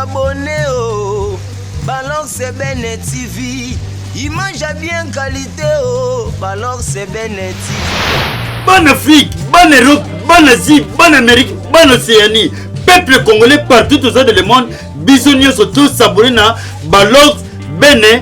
abonné oh balor c'est bene tv image ya bien qualité oh balor c'est bene tv bana afrique bana europe bana asie bana amérique bana océanie peuple congolais partout aux de le monde biso nyonso tosabone na balor bene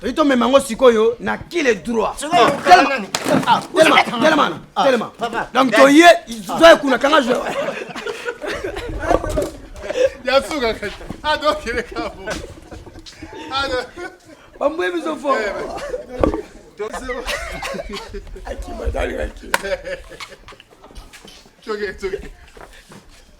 toyi tomema yango sikoyo na kile droit telema donc toye zoye kuna kanga zo ya suka kati adokele kabo bambwe biso fo It's okay, it's okay.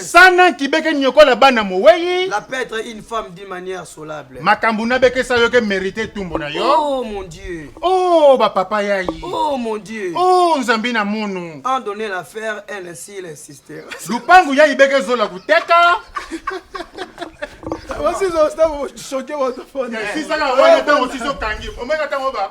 sana kibeke nyokola bana mowei la petre une femme d'une manière solable makambo nabekesa yo ke merite tumbo na yo oh mon dieu oh bapapa yai oh mon dieu oh nzambi na mono en donner la faire elle ainsi elle insister lupangu yai beke zola kuteka wasizosisaka wana ntango sizokangi omeka ntango ba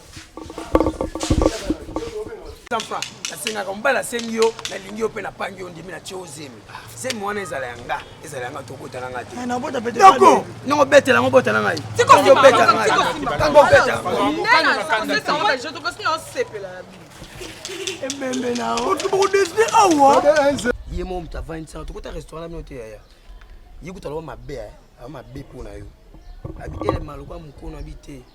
asengaka mobali asengi yo nalingi yo mpe napangi yo ndimi natie yo zemi zemi wana ezala ya nga ezala ya nga tokota na nga te eh, noko nongo betela yango bota na ngai obeta na ngai tango obeta ebembe na okibokodeside awa ye mo moto avandisaka tokota restaurant na bino te yaya ye kutu aloba mabe eh. aloba mabe mpo na yo abi elema lokola mokonu abi te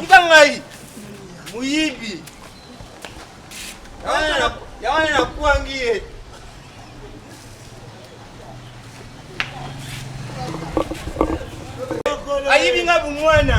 Tika ngai muyibi ya wana nakwangi ye ayibi nga bomwana